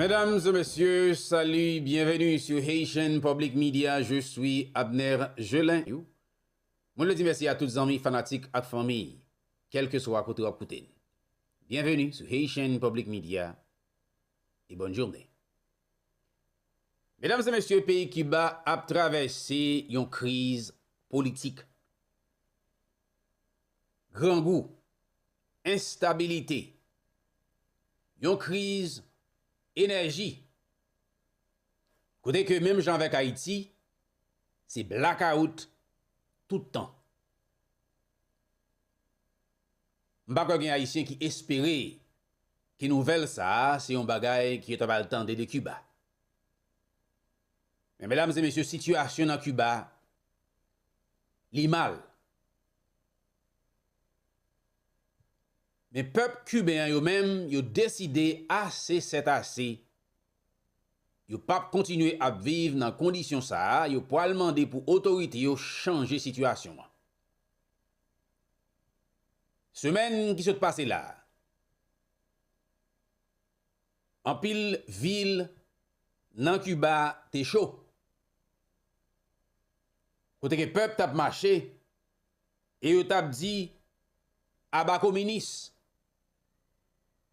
Medam e mesye, salu, byenveni su Haitian Public Media, je swi Abner Gelin. Mwen vle di mèsi a tout zanmi, fanatik ak fanmi, kèlkeswa kote w ap koute n. Byenveni su Haitian Public Media e bòn joune. Medam e mesye, peyi Kiba ap travèse yon kriz politik. grangou, enstabilite, yon kriz enèji, kote ke menm jan avèk Ayiti, se blakawout tout tan. M pa kwè gen Ayisyen ki espere ke nouvèl sa a se yon bagay ke yo ta pral tande de Kiba. Men medam e mesye, sitiyasyon nan Kiba li mal. Men pèp kiben an yo menm yo deside ase sèt ase, yo p ap kontinye ap viv nan kondisyon sa a, yo pwal mande pou otorite yo chanje sitiyasyon an. Semèn ki sot pase la a, Anpil vil nan Kiba te cho. Kote ke pèp tap mache e yo tap di aba kominis.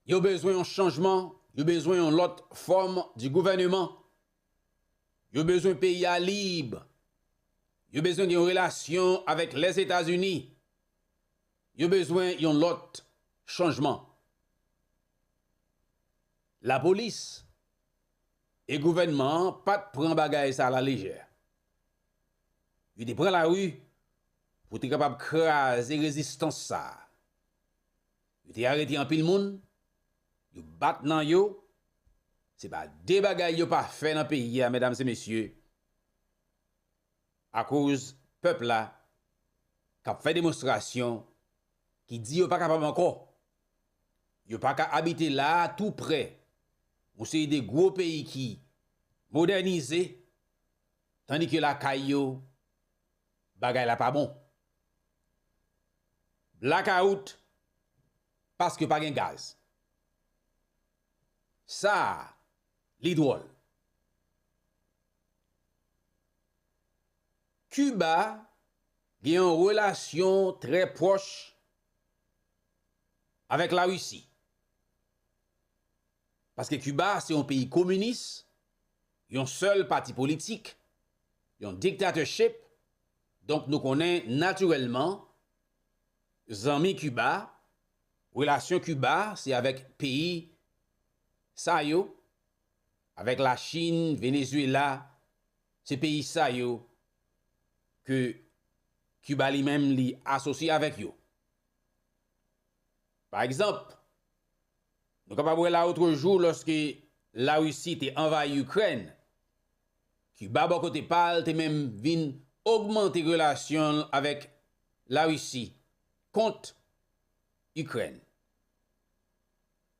Yo bezwen yon chanjman, yo bezwen yon lòt fòm di gouvèneman. Yo bezwen peyi a lib. Yo bezwen gen yon relasyon avèk Lèzetazini. Yo bezwen yon lòt chanjman. Lapolis e gouvènman an pa t pran bagay sa lalejè. Yo te pran lari pou te kapab kraze rezistans sa a. Yo te arete anpil moun, yo bat nan yo, se pa de bagay yo pa fè nan peyi a medam e mesye akoz pèp la k ap fè demonstrasyon ki di yo pa kapab ankò Yo paka abite la a tou prè yon seri de gwo peyi ki modènize tandi ke lakay yo bagay la pa bon. Blakawout paske pa gen gaz. Sa a li dwòl. Kiba gen yon relasyon trè pwòch avèk la Russie. Paske Cuba se yon peyi kominis, yon sèl pati politik, yon dictatorship, donk nou konnen natirèlman zanmi Cuba, relasyon Cuba se avèk peyi sa yo, avèk la Chine, Venezuela, Se peyi sa yo ke Kiba li menm li asosye avèk yo. Pa egzanp, nou kapab wè lawotrejou lòske Larisi te anvayi Ikrèn, Kiba bò kote pa l te menm vin ogmante relasyon l avèk Larisi kont Ikrèn.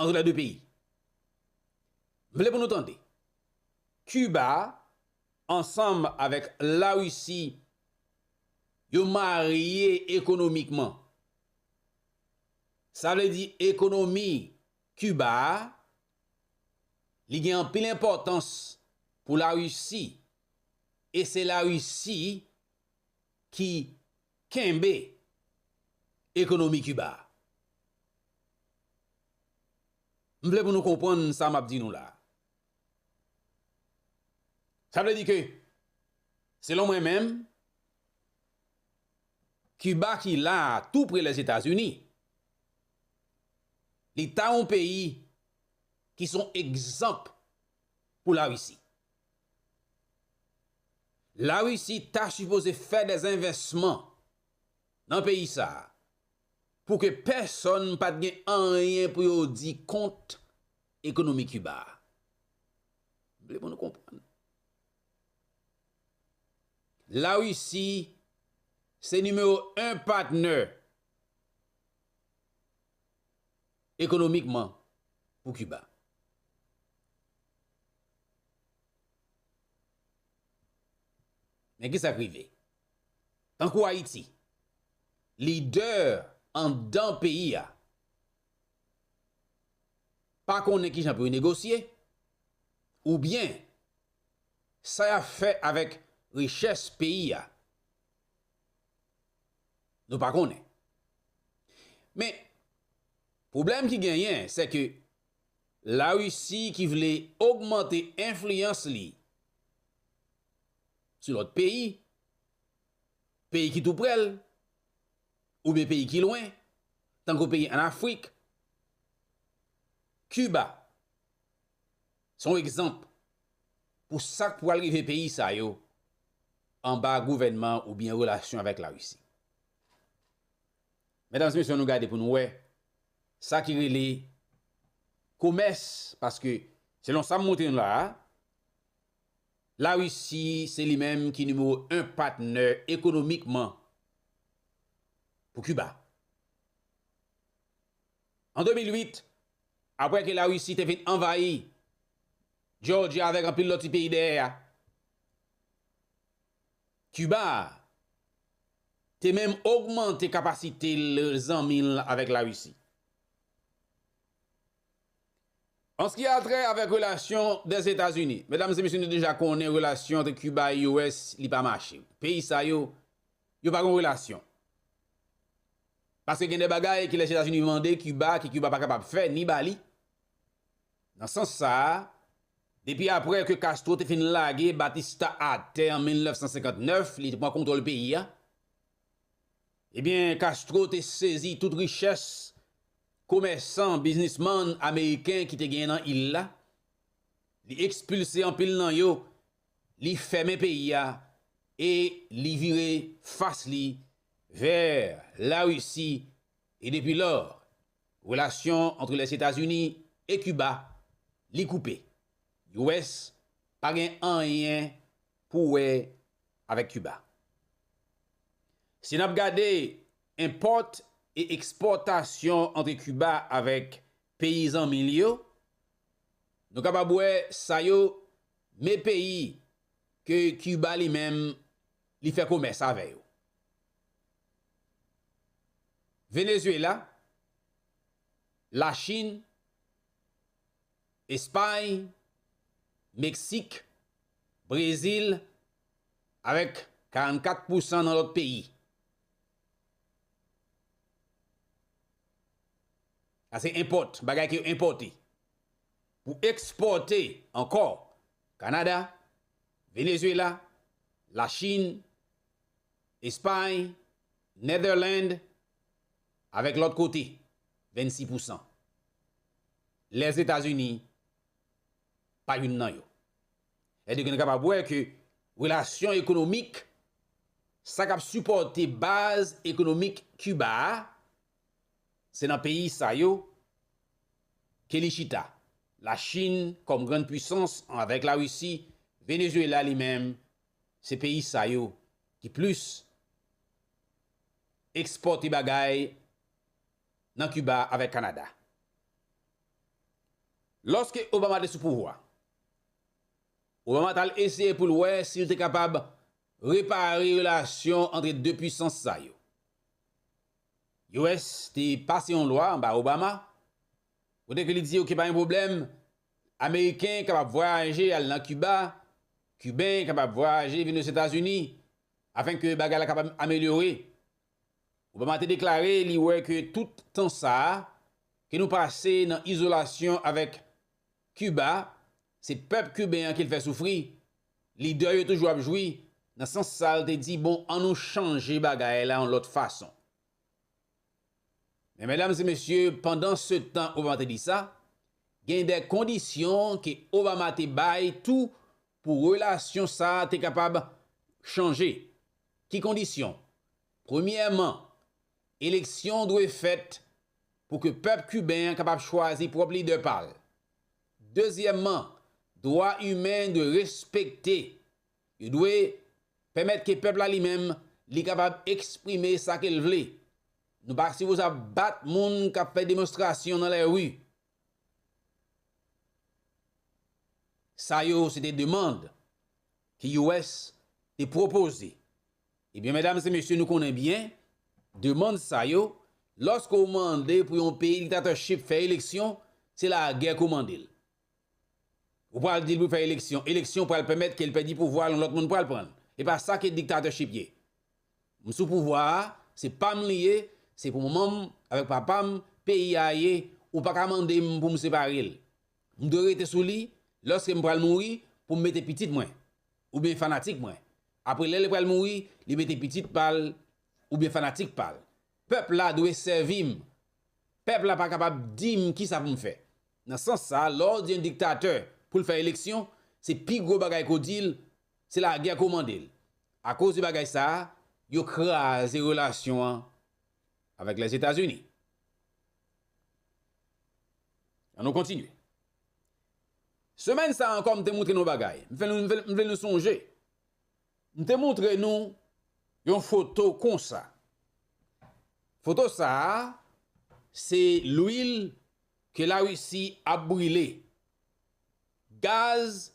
antre lè 2 peyi. M vle pou nou tande, Kiba ansanm avèk Larisi yo marye ekonomikman. Sa vle di ekonomi Kiba a li gen anpil enpòtans pou Larisi e se Larisi ki Kenbe ekonomi Kiba a. M vle pou nou konprann sa m ap di nou la a. Sa vle di ke, selon mwen menm, Kiba ki la a tou pre Lèzetazini, li ta yon peyi ki son egzanp pou Larisi. La Risi ta sipoze fè des envèsman nan peyi sa pou ke pèsòn pat gen anyen pou yo di kont ekonomi Kiba. M vle pou nou konprann. La Risi se nimewo 1 patnè ekonomikman pou Kiba. Men ki sa k rive? Tankou Ayiti, lidè anndan peyi a pa konnen ki jan pou yo negosye oubyen sa y ap fè avèk richès peyi a, nou pa konnen. Men, pwoblèm ki genyen, sè ke Larisi ki vle ogmante enfliyans li sou lòt peyi, peyi ki tou prè l, oubyen peyi ki lwen, tankou peyi ann Afrik, Kiba se yon egzanp pou sa k pral rive peyi sa yo anba gouvènman oubyen relasyon avèk Larisi. Medam mesye an nou gade pou nou wè sa ki rele komès paske selon sa m montre nou la a la Risi se li menm ki nimewo 1 patnè ekonomikman pou Kiba. An 2008 aprè ke la Risi te fin anvayi Jòji avèk anpil lòt ti peyi dèyè a Kiba a te menm ogmante kapasite zanmi l avèk Larisi. Anski a trè avèk relasyon Dèzetazini, medam e mesye nou deja konnen relasyon antre Kiba e US li pa mache. Peyi sa yo, yo pa gen yon relasyon. Paske gen de bagay ki Lèzetazini mande Kiba ki Kiba pa kapab fè ni ba li. Nan sans sa a, depi aprè ke Castro te fin lage Batista atè an 1959, li te pran kontwòl peyi a, ebyen Castro te sezi tout richès komèsan, biznisman ameriken ki te genyen nan il la, li ekspilse anpil nan yo, li fèmen peyi a e li vire fas li vè Larisi e depi lò, Relasyon antre Lèzetazini e Kiba li koupe. US pa gen anyen pou wè avèk Kiba. Si nap gade enpòt e ekspòtasyon antre Kiba avèk peyi zanmi li yo, nou kapab wè sa yo me peyi ke Kiba li menm li fè komès avè yo. Venezuela, Lachin, Espay, Meksik, Brezil avèk 44 pousan nan lòt peyi. Sa se enpòt, bagay ke yo enpòte. Pou ekspòte ankò, Kanada, Venezuela, Lachin, Espay, Netherland, avèk lòt kote, 26 pousan. Lèzetazini pa youn nan yo. Èdòk nou kapab wè ke relasyon ekonomik, sa k ap sipòte baz ekonomik Kiba a, se nan peyi sa yo ke li chita. Lachin kòm grann puisans avèk Larisi, Venezuela li menm Se peyi sa yo ki plis ekspòte bagay nan Kiba avèk Kanada. Lòske Obama te sou pouvwa, Obama t al eseye pou l wè si l te kapab repare relasyon antre 2 puisans sa yo. US te pase yon lwa anba Obama, Kote ke li di ok pa gen pwoblèm, Ameriken kapab vwayaje al nan Kiba, Kiben kapab vwayaje vin Ozetazini, afin ke bagay la kapab amelyore. Obama te deklare li wè ke tout tan sa a ke nou pase nan izolasyon avèk Kiba, se pèp Kiben an ke l fè soufri, lidè yo toujou ap jwi, nan sans sa l te di bon an nou chanje bagay la yon lòt fason. Men medam e mesye pandan se tan Obama te di sa, gen de kondisyon ke Obama te bay tou pou relasyon sa te kapab chanje. Ki kondisyon? Premyèman, eleksyon dwe fèt pou ke pèp kiben an kapab chwazi pwòp lidè pa l. Dezyèmman, dwa imen dwe respekte Yo dwe pèmèt ke pèp la li menm li kapab eksprime sa ke l vle. Nou pa sipoze ap bat moun k ap fè demonstrasyon nan lèri. Sa yo se te demand ke US te pwopoze. Ebyen medam e mesye nou konnen byen demand sa yo lòske ou mande pou yon peyi diktatòchip fè eleksyon se lagè ke w mande l. Ou pral dil pou fè eleksyon, eleksyon pral pèmèt kel pèdi pouvwal yon lòt moun pral pranl. Epa sa ke dictatorship ye. M sou pouvwa a, se pam li ye, se pou manmanm avèk papam peyi a ye, ou paka mandem poum separel. M dwe rete sou li lòske m pral mouri poum mete pitit mwen oubyen fanatik mwen apre lèl pral mouri li mete pitit pal oubyen fanatik pal. Pèp la dwe sèvim, pèp la pa kapab dim kisa poum fè. Nan sans sa, lè w di yon diktatè pou l fè eleksyon, se pi gwo bagay ke w di l, se lagè ke w mande l. Akoz de bagay sa a, yo kraze relasyon an avèk Lèzetazini. An nou kontinye. Semèn sa a ankò m te moutre nou yon bagay. M vle nou sonje, m te moutre nou yon foto konsa. Foto sa a, se lwil Ke la Russie ap brile. Gaz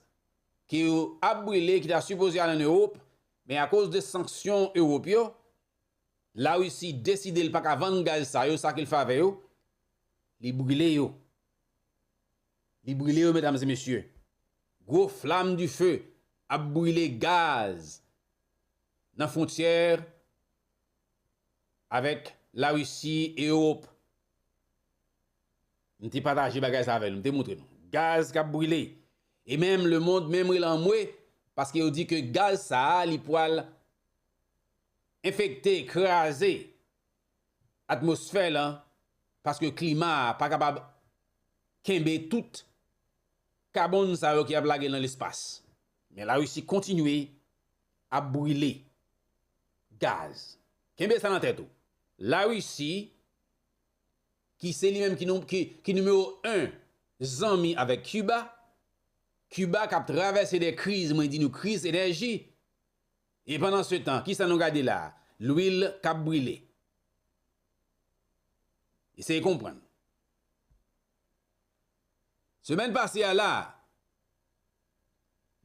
ke yo ap brile ki ta sipoze al an Europe men a koz de sanksyon Europe yo la Russie deside li paka vann gaz sa yo sa kel fè avè yo li brile yo li brile yo medam e mesye gwo flam du feu ap brile gaz nan frontyè Avèk la Russie e Europe. M te pataje bagay sa avè nou, m te moutre nou. Gaz kap brile. E menm le mond menm rele anmwe paske yo di ke gaz sa a li pwal enfekte, kraze atmosfè lan paske klima a pa kapab kenbe tout kabon sa yo ki ap lage lan lespas. Men la Russie kontinye ap brile. gaz. Kenbe sa nan tèt ou. La Risi ki se li menm ki nimewo 1 zanmi avèk Kiba, Kiba kap travèse de kriz, mwen di nou kriz enèji, e pandan se tan kisa nou gade la? Lwil kap brile. Eseye konprann. Semèn pase a la.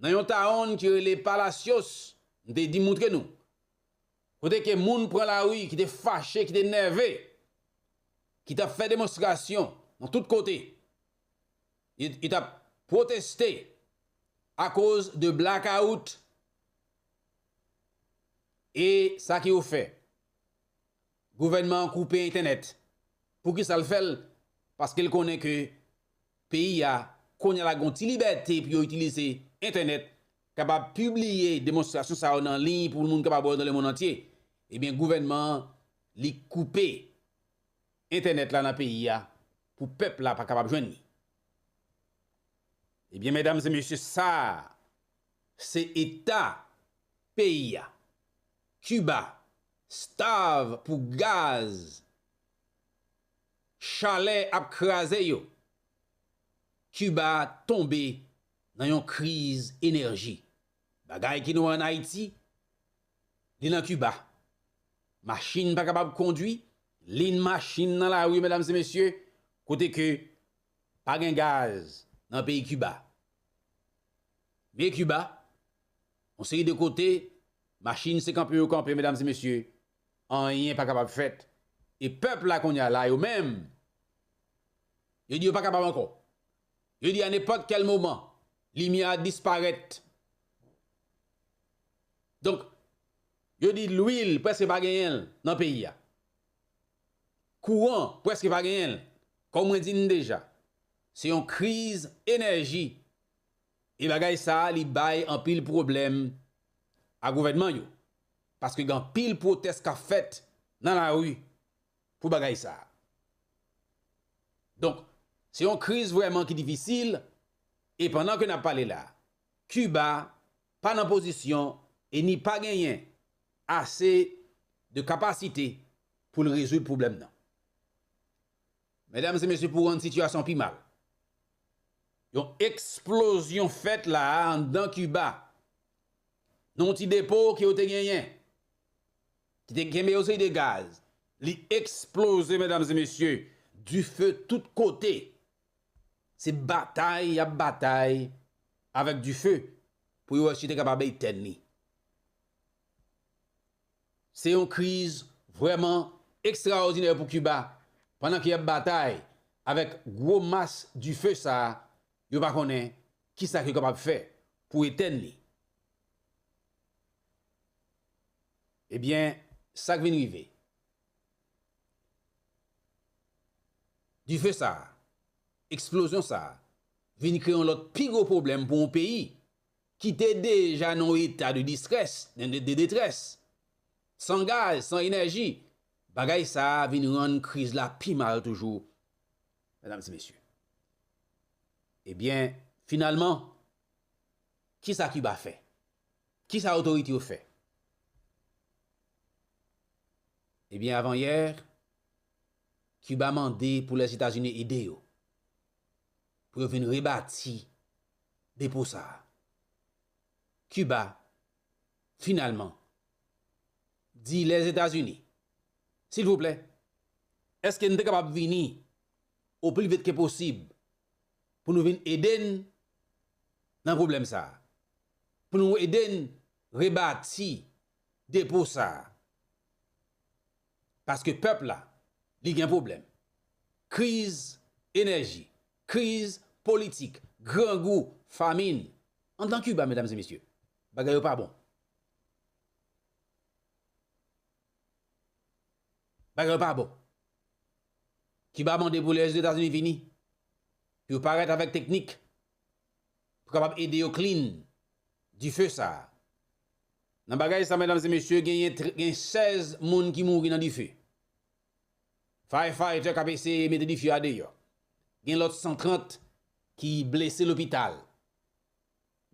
nan yon taon ki rele Palacios, m te di moutre nou, kote ke moun pran lari ki te fache, ki te nève, ki t ap fè demonstrasyon nan tout kote, yo t ap pwoteste akoz de blackout, e sa ke yo fè, Gouvènman an koupe entènèt. Poukisa l fè l? Paske l konnen ke peyi a kounye a la gon ti libète pou yo itilize entènèt, kapab pibliye demonstrasyon sa yo nan liy pou moun kapab wè yo nan lemonn antye. Ebyen gouvènman an li koupe entènèt la nan peyi a pou pèp la pa kapab jwenn li. Ebyen medam e mesye sa se eta peyi a. Kiba Starve pou gaz chalè ap kraze yo Cuba tonbe nan yon kriz enèji bagay ki nwa an Ayiti li nan Cuba machin pa kapab kondwi lin machin nan lari medam se mesye kote ke pa gen gaz nan peyi Cuba me Cuba Yon seri de kote, machin se kanpe yo kanpe medam e mesye, anyen pa kapab fèt, e pèp la kounye a la yo menm, yo di yo pa kapab ankò, yo di a nenpòt kèl moman, limyè a disparèt, donk, yo di lwil prèske pa genyen l nan peyi a, kouran prèske pa genyen l, kòm mwen di n deja, se yon kriz enèji. E bagay sa a li bay anpil pwoblèm a gouvènman yo, paske gen anpil pwotès k ap fèt nan lari pou bagay sa a. Donk, se yon kriz vrèman ki difisil, e pandan ke n ap pale la, Kiba pa nan pozisyon e ni pa genyen ase de kapasite pou l rezoud pwoblèm nan. Medam e mesye pou rann sitiyasyon pi mal, yon eksplozyon fèt la a anndan Kiba, nan yon ti depo ke yo te genyen, ki te kenbe yon seri de gaz, li eksploze medam e mesye, dife tout kote, se batay y ap batay avèk dife pou yo wè si yo te kapab etèn li. Se yon kriz vrèman ekstraòdinè pou Kiba pandan ke yap batay avèk gwo mas dife sa, yo pa konnen kisa ke yo kapab fè pou etèn li. Ebyen sak vin rive? Dife sa, eksplozyon sa vin kreye yon lòt pi gwo pwoblèm pou yon peyi. ki te deja nan yon eta de distrès, de detrès, san gaz, san enèji, bagay sa a vin rann kriz la pi mal toujou, medam e mesye. Ebyen, finalman, ki sa Kiba fè? Ki sa otorite yo fè? Ebyen, avan yè, Kiba mande pou Lèzetazini ede yo, pou yo vin rebati depo sa a. Kiba, finalman, di Lèzetazini, Silvouplè, èske n te kapab vini oplivit ke posib pou nou vin ede n nan pwoblèm sa a, pou nou ede n rebati depo sa a? Paske pèp la, li gen pwoblèm. Kriz enèji, kriz politik, grangou, famin. An dan Kiba, medam e mesye, bagay yo pa bon. Bagay yo pa bon. Kiba mande pou Lèzetazini vini, pou yo parèt avèk teknik, pou kapab ede yo klin dife sa a. Nan bagay sa, medam e mesye, genyen 16 moun ki mouri nan dife. Firefighter k ap eseye mete dife a deyò. Gen lòt 130 ki blese lopital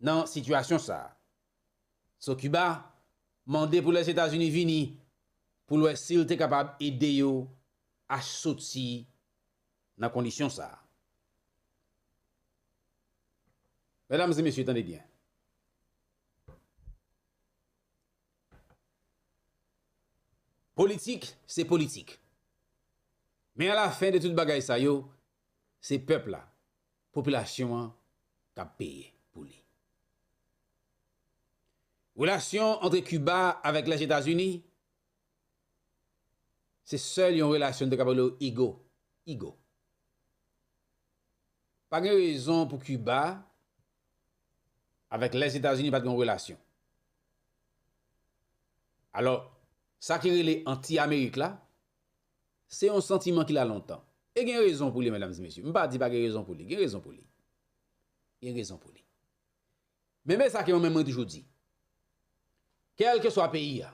nan sitiyasyon sa a. So Kiba mande pou Lèzetazini vini pou l wè si l te kapab ede yo a soti nan kondisyon sa a. Medam e mesye tande byen. Politik se politik. Men a la fen de tout bagay sa yo, se pèp la, popilasyon an k ap peye pou li. Relasyon antre Kiba avèk Lèzetazini, se sèl yon relasyon nou te kapab rele yo igo, igo. Pa gen rezon pou Kiba avèk Lèzetazini pa t gen yon relasyon. Alò, sa ki rele anti-Amerik la, se yon santiman ki la lontan. E gen rezon pou li, mèdamzmesye. M pa di pa gen rezon pou li. Gen rezon pou li. Gen rezon pou li. Men me sa ke mwen menm mwen toujou di. Kèlkeswa peyi a,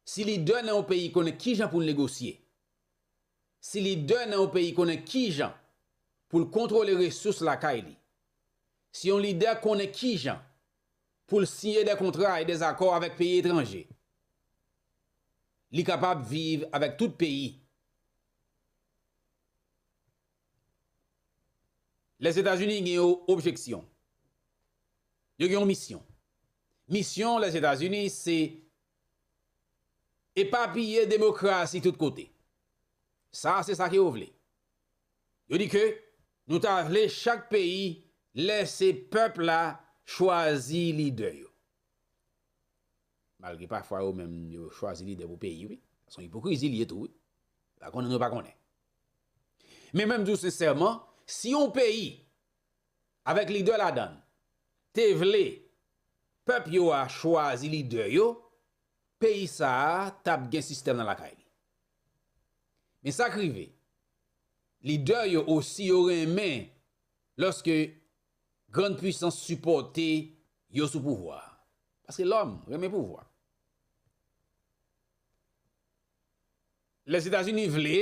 si lidè nan yon peyi konnen ki jan pou l negosye, Si lidè nan yon peyi konnen kijan pou l kontwole resous lakay li, si yon lidè konnen kijan pou l siyen dè kontra e dè akò avèk peyi etranje, li kapab viv avèk tout peyi. Lèzetazini gen yon objeksyon, yo gen yon misyon. Misyon Lèzetazini se epapiye demokrasi tout kote. Sa se sa ke yo vle. Yo di ke nou ta vle chak peyi lèse pèp la chwazi lidè yo. Malgre pafwa yo menm yo chwazi lidè pou peyi wi. Son ipokrizi li ye tou wi. Yo pa konnen nou pa konnen. Men mwen di w sensèman, si yon peyi avèk lidè ladan l, te vle pèp yo a chwazi lidè yo, peyi sa a t ap gen sistèm nan lakay li. Men sa k rive, lidè yo osi yo renmen lòske grann puisans sipòte yo sou pouvwa a, paske lòm renmen pouvwa. Lèzetazini vle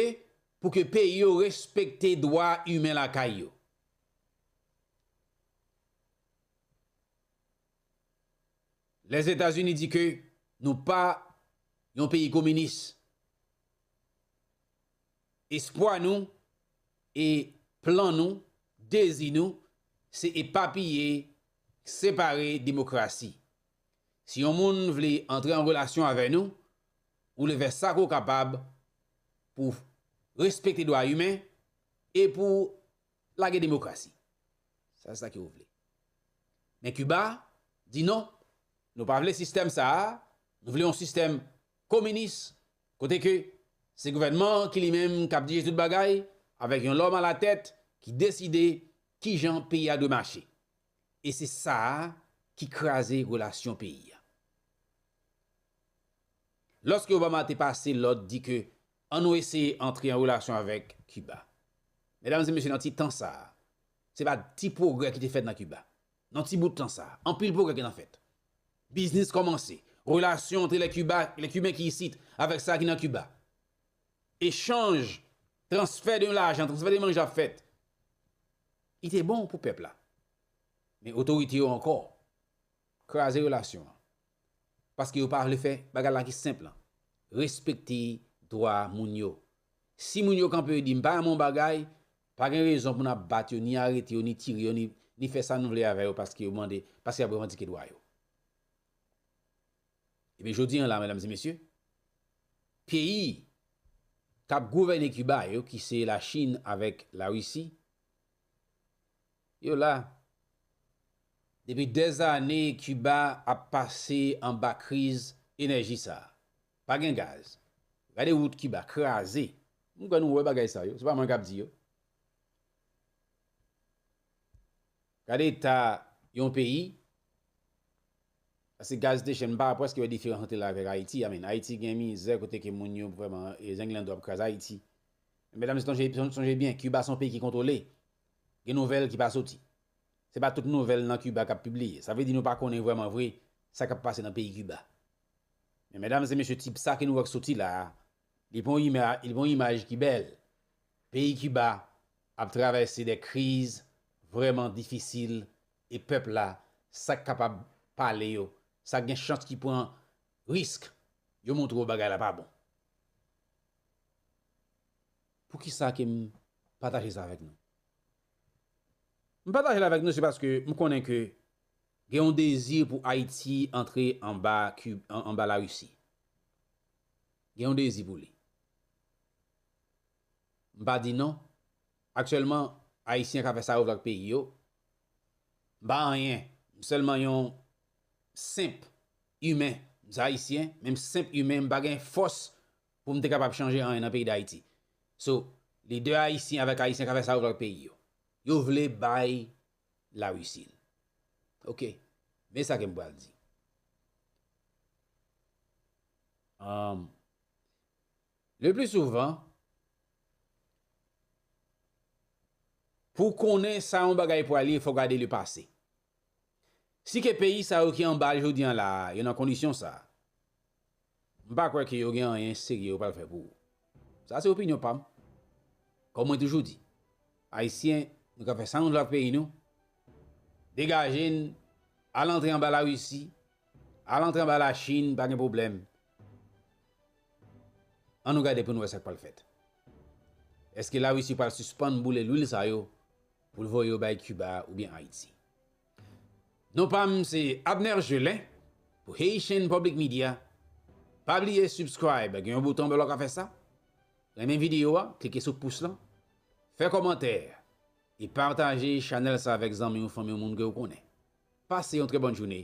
pou ke peyi yo respekte dwa imen lakay yo. Lèzetazini di ke nou pa yon peyi kominis. Espwa nou e plan nou, dezi nou, se epapiye, separe demokrasi. Si yon moun vle antre an relasyon avè nou, pou le fè sa ke w kapab pou w respekte dwa imen e pou w lage demokrasi. Sa se sa ke yo vle. Men Kiba di non, nou pa vle sistèm sa a, nou vle yon sistèm kominis kote ke se gouvènman an ki li menm k ap dirije tout bagay avèk yon lòm alatèt ki deside kijan peyi a dwe mache. E se sa a ki kraze relasyon peyi a. Lòske Obama te pase lòd di ke an nou eseye antre an relasyon avèk Kiba. Medam e mesye nan ti tan sa a, se pa ti pwogrè ki te fèt nan Kiba. Nan ti bout tan sa a, anpil pwogrè gen nan fèt. Biznis kòmanse, relasyon antre lè Kiba, lè Kiben ki isit avèk sa ki nan Kiba. Echanj, transfè de lajan, transfè de manje ap fèt. Li te bon pou pèp la. Men otorite yo ankò kraze relasyon an. Paske yo pa vle fè bagay la ki senp lan. Respekte dwa moun yo. Si moun yo kanpe yo di m pa renmen yon bagay, pa gen rezon pou n ap bat yo, ni arete yo, ni tire yo, ni fè sa nou vle avè yo paske yo mande, paske y ap revandike dwa yo. Ebyen jodi an la medam e mesye, peyi k ap gouvène Kiba yo ki se Lachin avèk Larisi, Yo la. Depi dèz ane Kiba ap pase anba kriz enèji sa. Pa gen gaz. Gade wout Kiba kraze. M kwè nou wè bagay sa yo. Se pa mwen k ap di yo. Gade eta yon peyi Asi gaz te chè m pa preske wè diferans ant li avèk Ayiti a min Ayiti gen mizè kote ke moun yo vrèman zenglendo ap kraze Ayiti men medam se tonje sonje byen Kiba se yon peyi ki kontwole gen nouvèl ki pa soti se pa tout nouvèl nan Kiba k ap pibliye sa vle di nou pa konnen vrèman vre sa k ap pase nan peyi Kiba men medam se mesye tip sa ke nou wè k soti la a li pa yon imaj ki bèl peyi Kiba ap travèse de kriz vrèman difisil e pèp la sa k kapab pale yo, sa k gen chans ki pran risk yo montre w bagay la pa bon. Poukisa ke m pataje sa avèk nou? M pataje l avèk nou se paske m konnen ke gen yon dezi pou Ayiti antre anba Ki, anba Larisi. Gen yon dezi pou li. M pa di non. Aktyèlman, Ayisyen ka fè sa yo vle ak peyi yo. M pa anyen. M sèlman yon senp imen. M se Ayisyen, men m senp imen. M pa gen fòs pou m te kapab chanje anyen nan peyi Dayiti. So, lidè Ayisyen avèk Ayisyen ka fè sa yo vle ak peyi yo. Yo vle bay Larisi l. Ok. Men sa ke m pral di. Le pli souvan, pou w konnen sa yon bagay pral ye, fò w gade le pase. Si ke peyi sa yo ki anba l jodi an la a, yo nan kondisyon sa a, m pa kwè ke yo gen anyen serye yo pral fè pou ou. Sa se opinyon pa m. Kòm mwen toujou di, Ayisyen, nou ka fè sa nou vle ak peyi nou, degaje n, al antre anba Larisi, al antre anba Lachin, pa gen pwoblèm, An nou gade pou nou wè sa k pral fèt. Eske Larisi pral sispann boule lwil sa yo pou l voye yo bay Kiba oubyen Ayiti? Non pa m se Abner Gelin pou Haitian Public Media. Pa bliye subscribe gen yon bouton anba la w ka fè sa. Renmen videyo a, klike sou pous lan. Fè kòmantè e pataje chanèl sa avèk zanmi w, fanmi w, moun ke w konnen. Pase yon trè bòn joune.